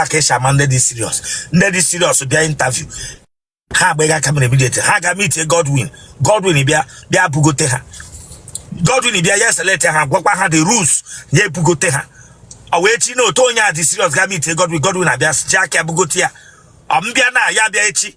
a ka esi ama ndị dị siriọs ndị dị siriọs bịa intaviu ha agbaghị aka mere immediately ha ga mitie Godwin Godwin bịa bịa bugote ha Godwin bịa ya select ha gwakwa ha the rules ya ebugote ha ọ wee chi na otu onye a dị siriọs ga mitie Godwin Godwin abịa ji aka ya bugote ya ọ mbịa na ya bịa echi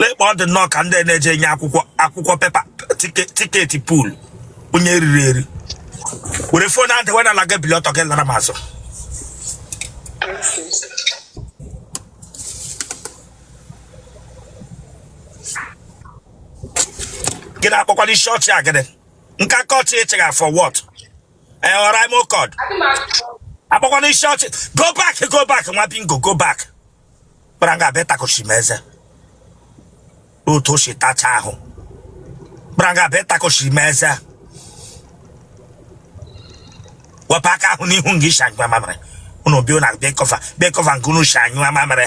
lekwa ọ dị nnọọ ka ndị na-eje enye akwụkwọ akwụkwọ pepa tike- tiketi pool onye eriri eri were fon a dewe n'ala gị bili ọtọ gị lara m azụ gị na-akpọkwala isi ọchị a gịnị nka kọchị ị chịgha for what ee ọra ime ụkọd akpọkwana isi ọchị go back go back nwa bingo go back gbara nga a bịa takoshi m eze otu o si tacha ahụ gbara nga a bịa takoshi m eze wepụ aka ahụ n'ihu nga i si anyụ amamịrị unu bịa na bịa kọva bịa kọva nga unu si anyụ amamịrị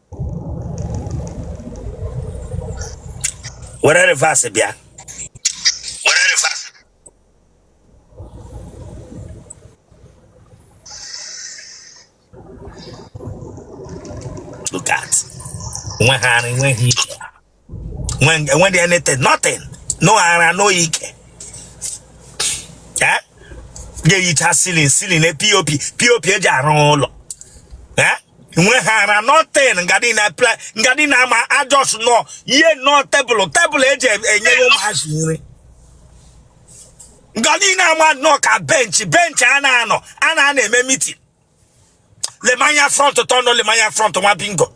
were reverse bịa were reverse look at nweghị ara nweghị enweghị anything nothing no ara no ike eyicha silin silin POP POP eji arụ ụlọ nweghị ara nothing ngadi na ama a jọs nọ yie nnọọ tebụl tebụl eji enyere ụmụazị nri ngadi na ama nọ ka bench bench a na-anọ a na-anọ eme mitin lee m anya front tọnụ lee m anya front nwa bingo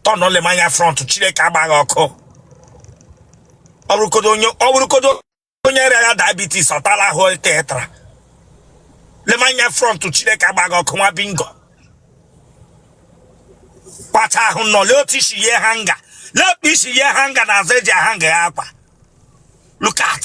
tọnụ lee m anya front chineke agbaa gị ọkụ ọ bụrụkodo onye ọ bụrụkodo onye rịa ya diabetes ọ tala ahụ tetara lee m anya front chineke agbaa gị ọkụ nwa bingo kpacha ahụ nọ lee otu i si yie hanga lee otu i si yie hanga n'azụ eji ahanga ya akwa look at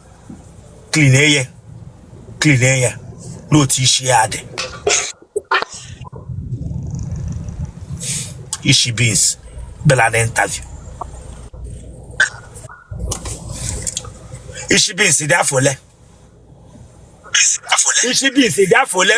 clean ya clean ya lee otu isi ya dị isi beans bịala interview isi beans dị afọ ole isi beans dị afọ ole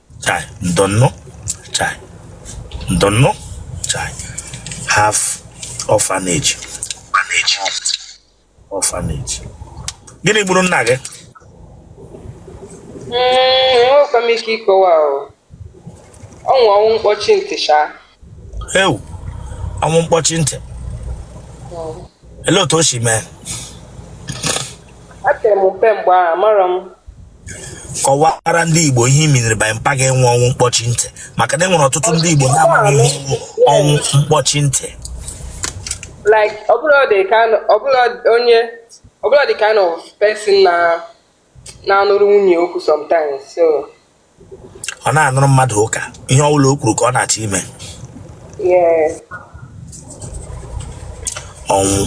chai ndo nnọọ chai ndo nnọọ chai half orphanage orphanage orphanage gịnị gburu nna gị enwekwa m ike ịkọwa o ọnwụ ọnwụ mkpọchi ntị cha ewu ọnwụ mkpọchi ntị ele otu o si mee Epere m mpe mgbe ahụ amarọ m kọwara ndị igbo ihe i miniri by mpa gị enwe ọnwụ mkpọchi ntị maka na e nwere ọtụtụ ndị igbo na-amaghị ihe bụ ọnwụ mkpọchi ntị like ọbụla dị ka ọbụla onye ọbụla the kind of person na na-anụrụ nwunye okwu sometimes so ọ na-anụrụ mmadụ ụka ihe ọ bụla o kwuru ka ọ na-achọ ime yes ọnwụ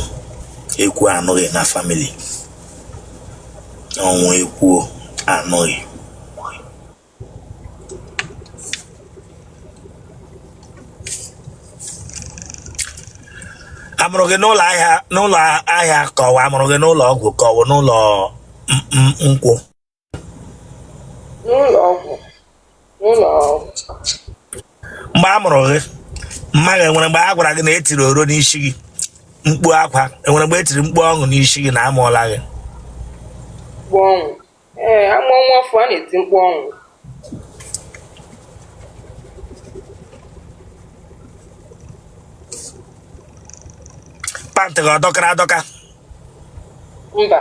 ekwuo anụghị na family ọnwụ ekwuo anụghị amụrụ gị n'ụlọ ahịa n'ụlọ ahịa ka ọwụ amụrụ gị n'ụlọ ọgwụ ka ọwụ n'ụlọ nkwụ n'ụlọ ọgwụ n'ụlọ ọgwụ mgbe a mụrụ gị mma gị enwere mgbe a gwara gị na etiri oro n'isi gị mkpu akwa enwere mgbe etiri mkpu ọṅụ n'isi gị na amụọla gị ee a mụọ nwa ọfụụ a na-eti mkpu ọṅụ pantị gị ọ dọkara adọka mba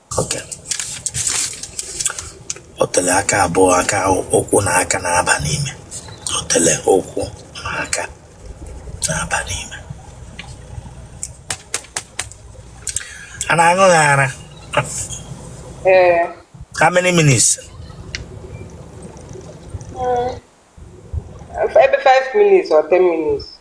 Okay. otele aka abụọ aka ụkwụ na aka na-aba n'ime otele ụkwụ na aka na-aba n'ime a na-aṅụ gị ara how many minutes hmm. maybe 5 minutes or 10 minutes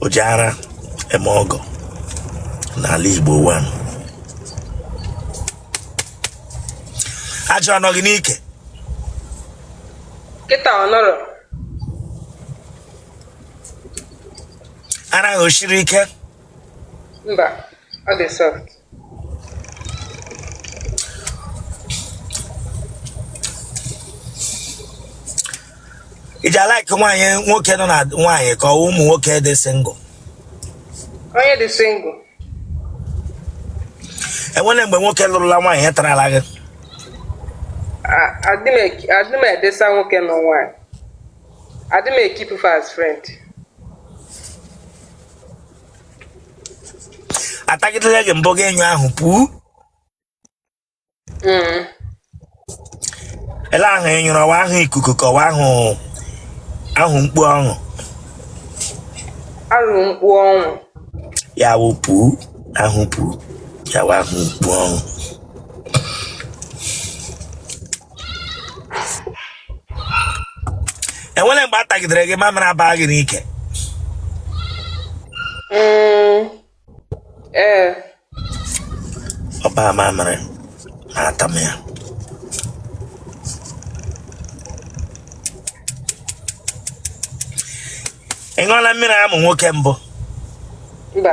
o ji ara eme ọgọ n'ala Igbo one ajị ọ nọ gị n'ike kịta ọ nọrọ ara gị o siri ike mba ọ dị soft ị ji a-like nwaanyị nwoke nọ na nwaanyị ka ọwụ ụmụ nwoke dị single onye dị single enwere mgbe nwoke lụrụla nwaanyị ya tarala gị adị m edesa nwoke na nwaanyị adị m e-keep as friend atagidere gị mbụ gị enyụọ ahụ pụọ mm. ele ahụ ị nyụrụ ọ wụ ahụ ikuku ka ọ wụ ahụ mkpu ọhụ ahụ mkpu ọhụ ya wụ pụọ ahụ pụọ ya wụ ahụ mkpu ọhụ enwere mgbe a tagidere gị mamịrị agbaa gị n'ike Mm, ee ọgba mamịrị na-ata m ya ị ṅụọla mmiri amụ nwoke mbụ mba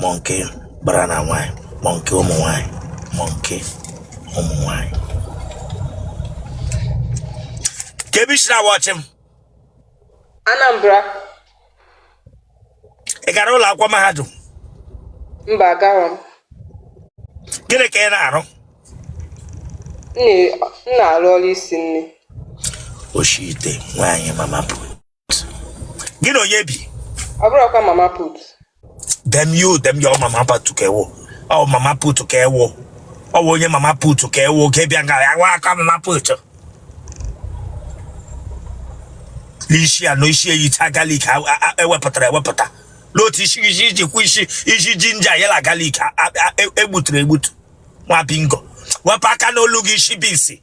monkey gbara na nwaanyị monkey ụmụ nwaanyị monkey ụmụ nwaanyị kee ebe i si na-awatch m Anambra ị gara ụlọ akwụkwọ mahadum mba agara m gịnị ka ị na-arụ m na-arụ ọrụ isi nri oshi ite nwaanyị mama put gị na onye bi ọ bụrụ ọkwa mama put dem you dem your mama put ka ị wụ ọ mama put ka ị wụ ọ wụ onye mama put ka ị wụ ka ị bịa nga ya wa aka mama put n'isi ya na isi ya yicha garlic a- a- a- ewepụtara ewepụta n'otu isi isi iji kwụ isi isi ginger ya la garlic a- a- a- e- egbutere egbutu nwa bingo wepụ aka n'olu gị isi bisi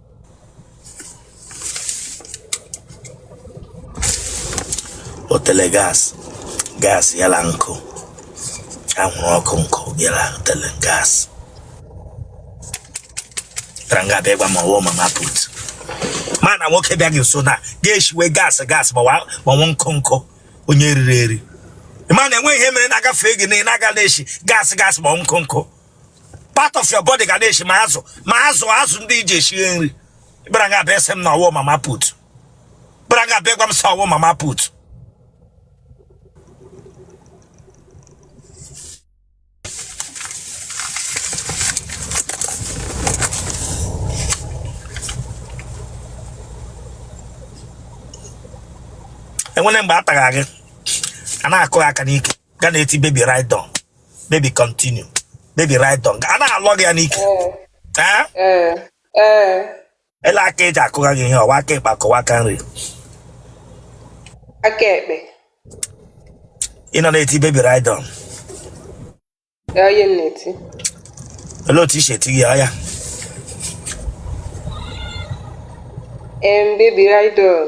otele gas gas ya la nkụ anwụrụ ọkụ nkụ ya la otele gas bara nga abịa gwa m na ọ wụ mama put mana nwoke bịa gị nso na ga-eshiwe gas gas ma wa- ma ọ wụ nkụ nkụ onye riri eri ma na enweghị ihe mere na-agafe gị na ị na-aga na-eshi gas gas ma ọ nkụ nkụ part of your body ga na-eshi ma azụ ma azụ azụ ndị e ji eshi nri bara nga abịa sị m na ọ wụ mama put bara nga abịa gwa m sị ọ wụ mama put enwere mgbe a tara gị a na-akụ gị aka n'ike gị ana-eti baby ride on baby continue baby ride on a na-alọ gị ya n'ike Eh? ee ee ele aka eji akụga gị ihe ọ wụ aka ịkpa ka ọ wụ aka nri aka ekpe ị nọ na-eti baby ride on ya onye m na-eti olee otu i si eti gị ya oya em baby ride on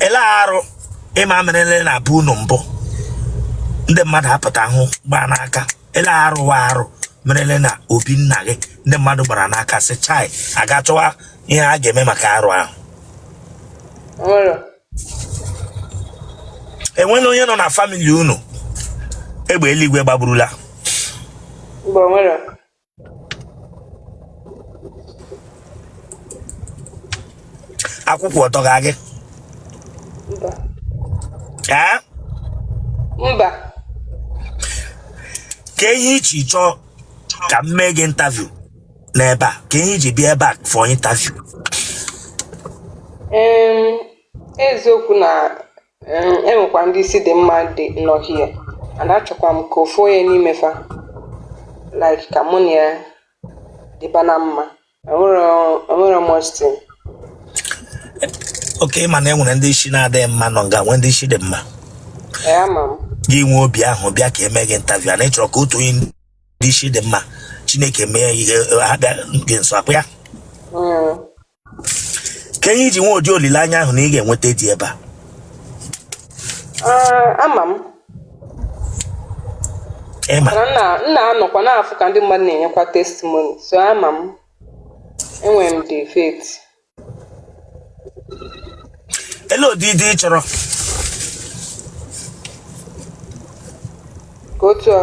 ele arụ ịma merele na be unu mbụ ndị mmadụ apụta hụ gbaa n'aka ele arụ wụ arụ merele na obi nna gị ndị mmadụ gbara n'aka sị chai aga chọwa ihe a ga-eme maka arụ ahụ enwela onye nọ na famili unu egbe eluigwe gbagburula akwụkwọ ọ tọga gị mba ee mba ka ihe iji chọọ ka m mee gị interview n'ebe a ka ihe iji bịa ebe a for interview Em, eziokwu na um E nwekwa ndị isi dị mma ndị nọ here, and achọkwa m ka ofu onye n'ime fa like ka mụ na ya dịba na mma. Enwere enwere m Austin. okay ịma na e nwere ndị isi na-adịghị mma nọ nga nwee ndị isi dị mma Ee, ama m. gị nwee obi ahụ bịa ka eme gị interview a na ịchọrọ ka otu onye ndị isi dị mma chineke mee ihe ha bịa gị nso ọkwa ya Mm. ka ihe iji nwee ụdị olileanya ahụ na ị ga-enweta di ebe a Ee, ama m ịma mana m na m na-anọkwa na-afụ ka ndị mmadụ na-enyekwa testimoni so ama m enwere m the faith ele ụdị di ị chọrọ ka otu a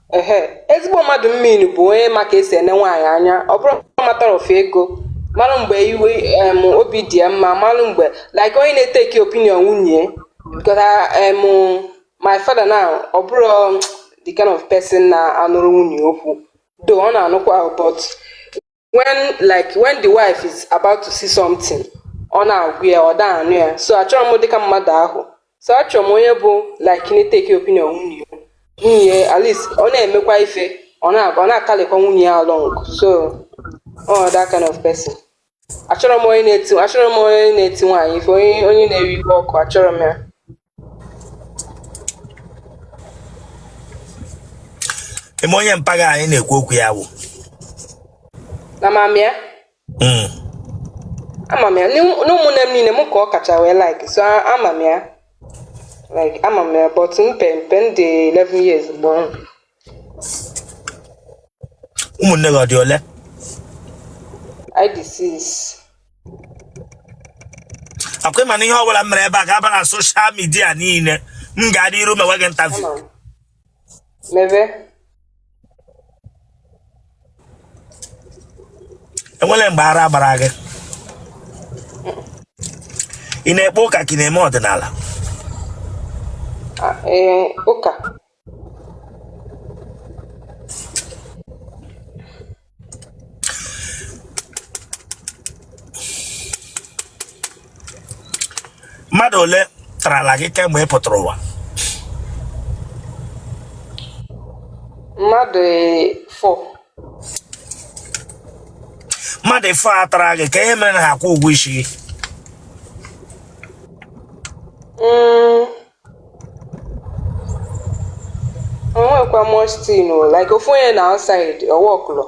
ehe ezigbo mmadụ m mean bụ onye ma ka esi ene nwaanyị anya ọ bụrọ matter of ego mara mgbe iwe em, obi dị ya mma mara mgbe like onye na-eteki opinion nwunye because I- em, my father now ọ bụrọ um, the kind of person na-anụrụ nwunye okwu though ọ na-anụkwa o but when like when the wife is about to say something ọ na-agwa ya ọ da anụ ya so achọrọ m dịka mmadụ ahụ so achọrọ m onye bụ like na-eteki opinion nwunye ya nwunye at least ọ na-emekwa ife ọ na-akalịkwa nwunye ya along so ọ that kind of person achọrọ m onye na-eti achọrọ m onye na-eti nwaanyị ife onye na-ewe iwe ọkụ achọrọ m ya ịma onye mpa gị a anyị na-ekwu okwu ya wụ na ama m ya Mm. ama m ya n'ụmụnne m niile mụ ka ọ kacha wee like so a- ama m ya like ama m ya but mgbe mgbe m dị 11 years mgbe ahụ ụmụnne gị ọ dị ole anyị dị six. akwa ị ma na ihe ọbụla m mere ebe a ga-aba na social media niile m gaa n'iru mewe gị interview Ama m. Mebe. e nwere mgbe ara gbara gị ị na-ekpe ụka ka ị na-eme ọdịnala Ah, eh, ụka. mmadụ ole tarala gị kemgbe ị pụtara ụwa mmadụ four mmadụ four a tara gị ka ihe mere na ha akwụ ụgwọ isi gị mm. onwekwa much tin o like ofu onye na outside ọ workụrọ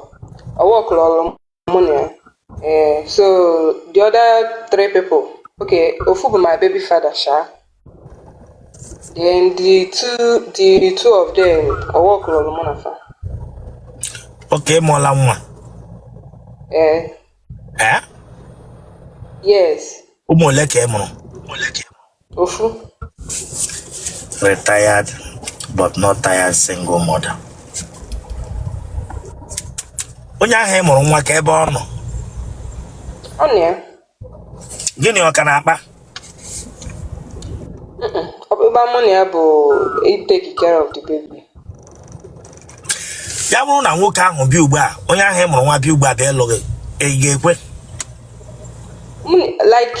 ọ workụrọlụ mụ na ya ee so the other three people okay ofu bụ my baby father sha then the two the two of them ọ workụrọlụ mụ na fa okay ị mụọla nwa ee ee yes ụmụ ole ka ị mụrụ ofu retired but not tired single mother onye ahụ ị mụrụ nwa ka ebe ọ nọ ọ nọ ya gị na ya ọ ka na-akpa ọkpụkpa mụ na ya bụ ị take care of the baby ya bụrụ na nwoke ahụ bịa ugbu a onye ahụ ị mụrụ nwa bịa ugbu a bịa ịlụ gị ị ga-ekwe Mụ na- like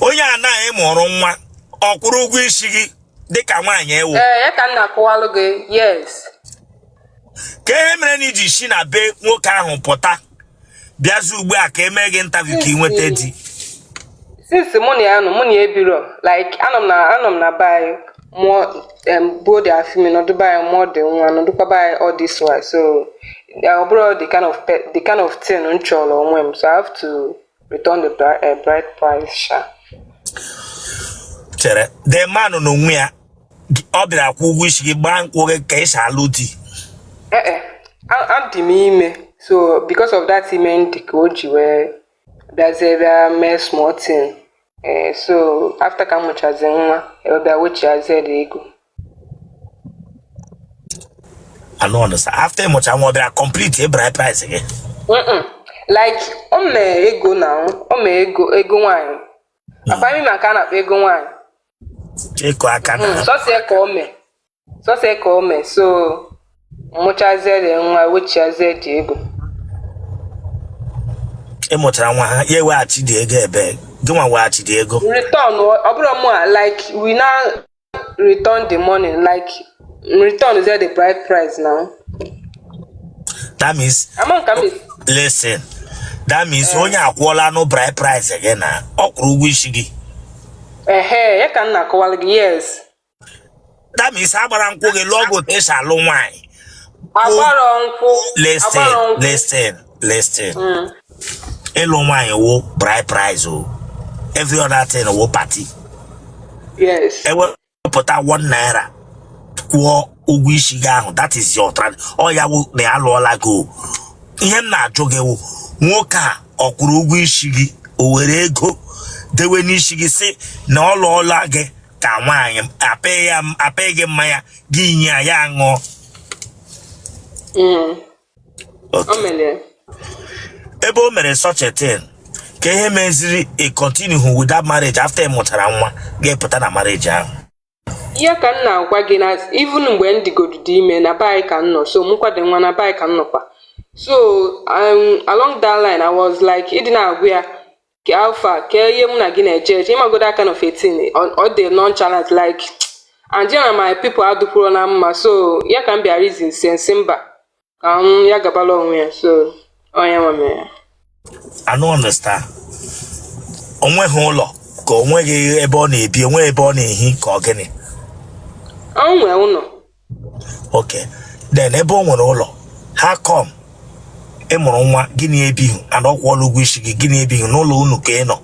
onye anwa ị mụrụ nwa ọ kwụrụ ụgwọ isi gị dịka nwaanyị ị wụ ee ya ka m na-akọwalụ gị yes ka ihe mere na i ji si na be nwoke ahụ pụta bịazi ugbu a ka e mee gị interview ka ị nweta di since mụ na ya nọ mụ na ya ebiro like anọ m na anọ m na be anyị mụọ um, both the afọ ime nọdụ be anyị mụọ the nwa nọdụkwa be anyị all this while so ọ bụrọ the kind of the kind of thing m chọlụ onwe m so i have to return the bride, uh, bride price sha chere the man n'onwe ya ọ bịara kwụọ ụgwọ isi gị gbaa nkwụ gị ka e si alụ di ee adị m ime so because of that ime m dị ka o ji wee bịazie bịa mee small thing ee so after ka m mụchazi nwa e wee bịa wechiazie the ego I don't understand. After ị mụcha nwa ọ bịara complete bride price gị. Mm-mm. like o mee ego na o mee ego ego nwaanyị akpa ịma ka a na-akpa ego nwaanyị ịkụ aka na sọsọ ya ka o mee sọsọ ka o mee so mụchazie the nwa wechiazie the ego ị mụchara nwa ha ya eweghachi the ego ebe gị nwa weghachi the ego return ọ bụrọ mụwa like we now return the money like return is the bride price now that means ama nka m esi listen that means onye a akwụọlanụ bride price gị na ọ kwụrụ ụgwọ isi gị ehe ya ka m na-akọwara gị yes that means agbara nkwụ gị lụọ gị otu esi alụ nwaanyị agbara nkwụ listen agbara nkwụ listen listen ịlụ nwaanyị wụ bride price o every other thing wụ party yes ewepụta one naira kwụọ ụgwọ isi gị ahụ that is your trad ọ ya wụ na ya lụọla gị o ihe m na-ajụ gị wụ nwoke a ọ kwụrụ ụgwọ isi gị o were ego dewe n'isi gị sị na ọ lụọla gị ka nwaanyị apịghị ya apịghị gị mmanya gị nye ya ya ṅụọ Mm. Otu. O mere ya. ebe o mere such a thing kee ihe meziri ị continue hụ with that marriage after ị mụtara nwa gị apụta na marriage ahụ ihe ka m na-agwa gị na even mgbe m dịgodu dị ime na be anyị ka m nọ so mụkwado nwa na be anyị ka m nọkwa so um, along that line I was like ịdị na-agwa ya kee how far kee ihe mụ na gị na-eje eje ịmago that kind of thing ọ- ọ dị nonchalant like and ya na my people adịkwurọ na mma so ya ka m bịa reason sie m sị mba ka m ya gabala onwe ya so onye nwe mere ya I don't understand. O nweghị ụlọ ka o nweghị ebe ọ na-ebi, o nweghị ebe ọ na-ehi ka ọ gịnị. o nwee ụlọ okay then ebe o nwere ụlọ how come ị mụrụ nwa gị na ya ebighị and ọ kwụọla ụgwọ isi gị gị na ya ebighị n'ụlọ unu ka ị nọ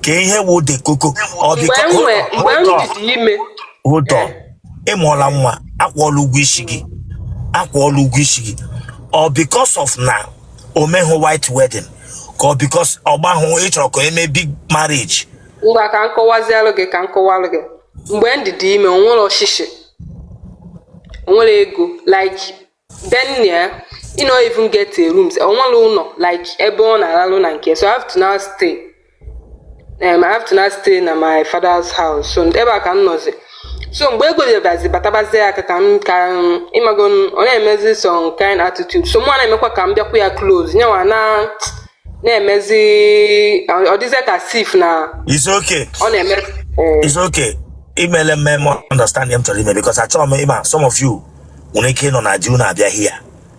kee ihe wụ the koko ọ dị mgbe ka m nwee mgbe m dịdị ime hold on ị mụọla nwa akwụọla ụgwọ isi gị akwụọla ụgwọ isi gị ọ because of na o meghị white wedding ka ọ because ọ gbahụ ị chọrọ ka e mee big marriage ngwa ka m kọwazialụ gị ka m kọwalụ gị mgbe m dịdị ime o nwerọ shishi o nwerọ ego like then ya he no even get a room o nwerọ ụlọ like ebe ọ na-alalụ na nke so I have to now stay um, I have to now stay na my father's house so ebe a ka m nọzi so mgbe ego bịabazi batabazie aka ka m ka ịmago ọ na-emezi some kind attitude so mụ na-emekwa ka m bịakwa ya close yanwa na na-emezi ọ dịzie ka as if na It's okay. ọ na-eme eh, It's okay. Imele mme m understand ihe m chọrọ ime because achọrọ m ịma some of you nwere ike ịnọ na di unu abịa here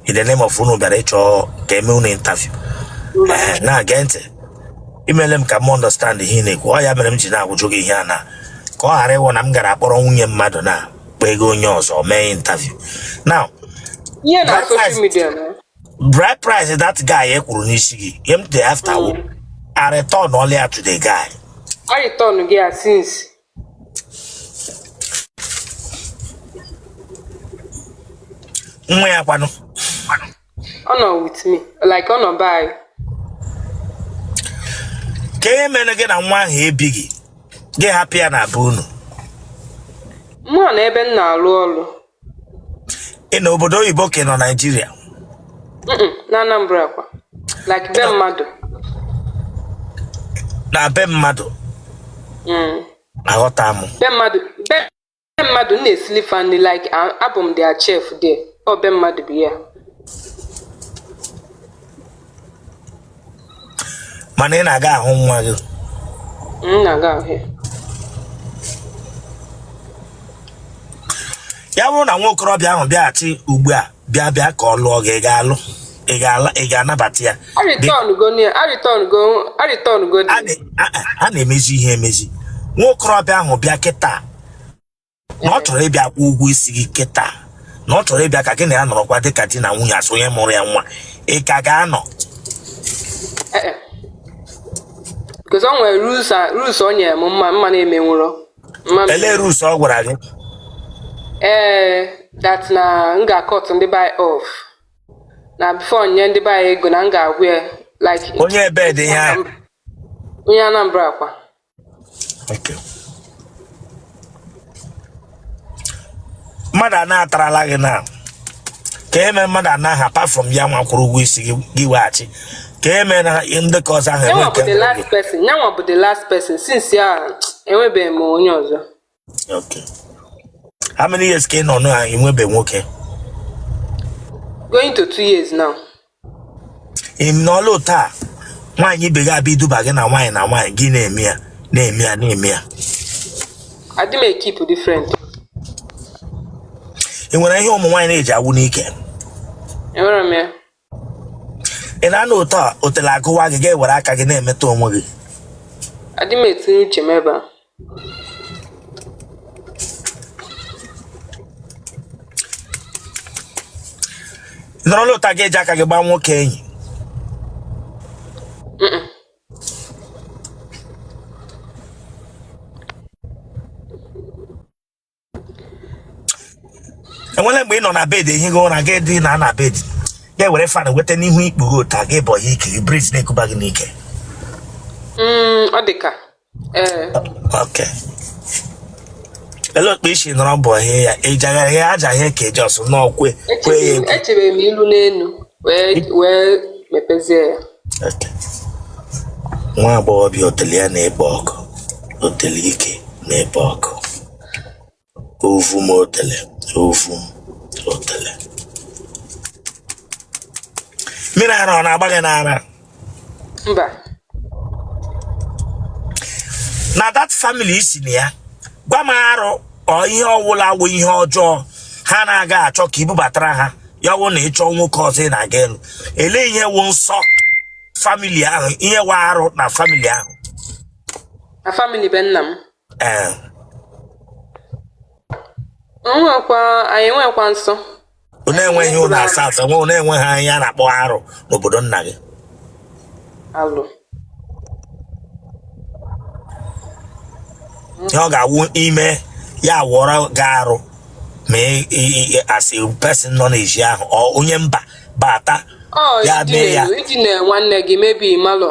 in the name of unu bịara ịchọ ka e mee unu interview. Ee, na-ege ntị. Imele m ka m understand ihe ị na-ekwu. Ọ ya mere m ji na-ajụ gị ihe a na ka ọ ghara ịwụ na m gara akpọrọ nwunye mmadụ na kpọọ ego onye ọzọ mee interview. Now, ihe na That social life- media na bride price that guy a kwụrụ n'isi gị ihe m dị after wụ a returnọla ya to the guy ọ returnụgo ya since nwa ya kwanụ ọ nọ with me like ọ nọ be anyị kee ihe mere gị na nwa ahụ ebighị gị hapụ ya na be unu mụwa nọ ebe m na-alụ ọrụ ị nọ obodo oyibo ka ị nọ naijiria Mm-mm, na anambra kwa like be mmadụ na be mmadụ Mm. aghọta m be mmadụ be be mmadụ m na-esili fa nri like a- abụ m their chef there ọ be mmadụ bụ ya mana ị na-aga ahụ nwa gị ya bụrụ na nwa okorobịa ahụ bịaghachi ugbu a bịa bịa ka ọ lụọ gị ị ga-alụ ị ga-anabata ya a na-emezi ihe emezi nwa okorobịa ahụ bịa kịta na ọ chọrọ ịbịa kwụọ ụgwọ isi gị kịta na ọ chọrọ ịbịa ka gị na ya nọrọkwa dị ka di na nwunye as onye mụrụ ya nwa ị ka ga-anọ Eh, eh. Because o nwere rules a- rules o nyere m ma mana emenwurọ mma m- elee rules ọ gwara gị ee that na m ga-acut ndị be anyị off na before nye ndị be anyị ego na m ga-agwa ya like onye ebee dị ihe ahụ onye Anambra kwa mmadụ a na-atarala gị na ka eme mmadụ anaghị apart from ya nwa kwụrụ ụgwọ isi gị weghachi ka eme na ndị ka ọzọ ahụ enwe nke ya nwa bụ the last person since ya enwebeghị m onye ọzọ Okay. How many years ka ị nọ na enwebe nwoke? Going to two years now. Ị nọọlụ taa nwaanyị ibe gị abịa iduba gị na nwaanyị na nwaanyị gị na-eme ya na-eme ya na-eme ya. Adị m ekeep dị friend. Ị nwere ihe ụmụ nwaanyị na-eji awụ n'ike? Enwere m ya. ị na-anụ ụtọ a otele agụwa gị ị ga-ewere aka gị na-emetụ onwe gị adị m etinye uche m ebe a Ị nọrọ nọta gị eji aka gị gbaa nwoke enyi enwere mgbe ị nọ na bed ehighị ụra gị dina na bed gị ewere fan weta n'ihu ikpughe ọtụ gị bọ ya ike breeze na-ekuba gị n'ike mm, ọ dị ka eh. okay ele okpe isi nọrọ bọ ya ejagharị ya aja ya ka eji ọsụ n'ọkwe kwe ya ekwe echere m ilu n'elu nwa agbọghọbịa otele ya na-ekpo ọkụ otele ike na-ekpo ọkụ ovu m otele ovu m otele mmiri ara ọ na-agba gị n'ara mba na that family ị sị na ya gwa m arụ or ihe ọwụla wụ ihe ọjọọ ha na-agaghị achọ ka i bubatara ha ya wụ na ịchọ nwoke ọzọ ngwanụ elee ihe wụ nsọ family ahụ ihe wụ arụ na family ahụ na family be nna m ee enwekwa anyị enwekwa nsọ unu enweghị ihe unu asọ nsọ unu enweghị ihe a na-akpọ arụ n'obodo nna gị alụ ihe ọ ga-awụ i mee ya wụọrọ gị arụ ma ị- ị- ị- as a person nọ n'ezi ahụ or onye mba bata ọ Ya iji mee ya. na-elu idina nwanne gị mebi malụ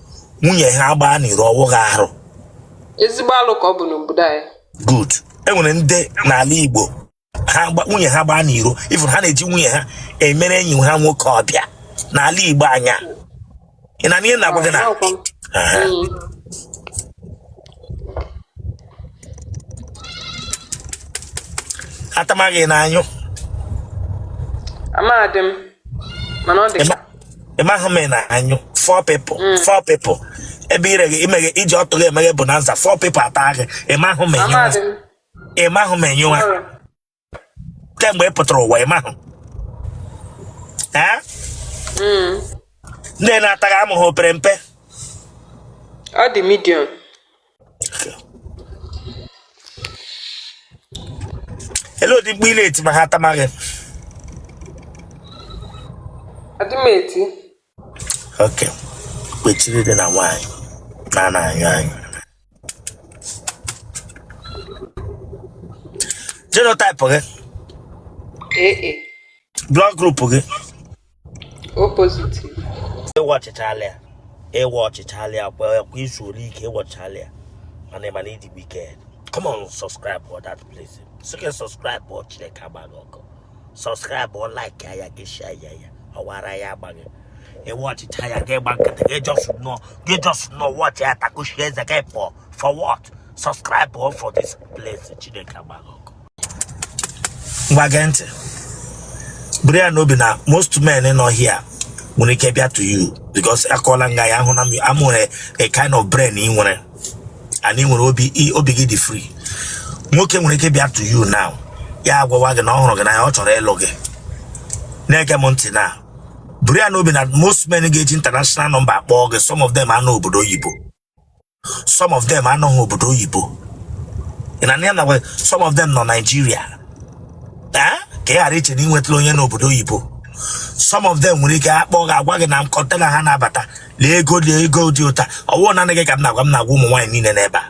nwunye ha gbaa n'iro ọwụghị arụ ezigbo alụ ka ọ bụ n'obodo anyị good enwere ndị n'ala igbo ha gba- nwunye ha gbaa n'iro even ha na-eji nwunye ha emere enyi ha nwoke ọbịa n'ala igbo anya ị na ihe na-agwa gị na Ọkwa m. Aha. Mm. atama gị ị na-anyụ amadị m mana ọ dị ka Ema- ịmahụ ma ị na-anyụ four people mm. four people ebe ire gị imeghe iji ọtụ gị emeghe bonanza four people ata gị ịmahụ ma ị nyụwa ịmahụ ma ị nyụwa kemgbe ị pụtara ụwa ịmahụ mm. ndị na-ata gị amụ ha ọ pere mpe ọ dị medium ele ụdị mkpu ị na-eti ma ha tama gị adị m eti okay kwechiri dị na nwaanyị na-anyụ anyụ genotype gị ee blood group gị ị watchịchaala ya ị watchịchaala ya kwa kwa izu ole ike ị watchịchaala ya mana ị mana ịdị wicked come on subscribe for that place sike subscribe for chineke agba gị ọkụ subscribe for like ya ya gị share ya ya ọwara ya agba gị ị watchịcha ya gị gba nkịtị gị just know gị just know watch ya takushi eze gị for for what subscribe for this place chineke agba gị ọkụ ngwa gee ntị buru ya n'obi na most men nọ here nwere ike bịa to you because akọọla nga ya ahụ na m am nwere a kind of brain ị nwere and ị nwere obi i- obi gị dị free nwoke nwere ike bịa to you now ya agwawa gị na ọ hụrụ gị n'anya ọ chọrọ ịlụ gị na-ege m ntị na buru ya n'obi na most men ga-eji international nọmba akpọọ gị some of them anọ obodo oyibo some of them anọghị obodo oyibo ị na ya nakwa some of them nọ Naịjirịa ee ka ị ghara iche na i nwetala onye n'obodo oyibo some of them nwere ike akpọ gị agwa gị na kọntena ha na-abata lee ego lee ego dị otu a ọ wụọ naanị gị ka m na-agwa m na-agwa ụmụ nwaanyị niile n'ebe a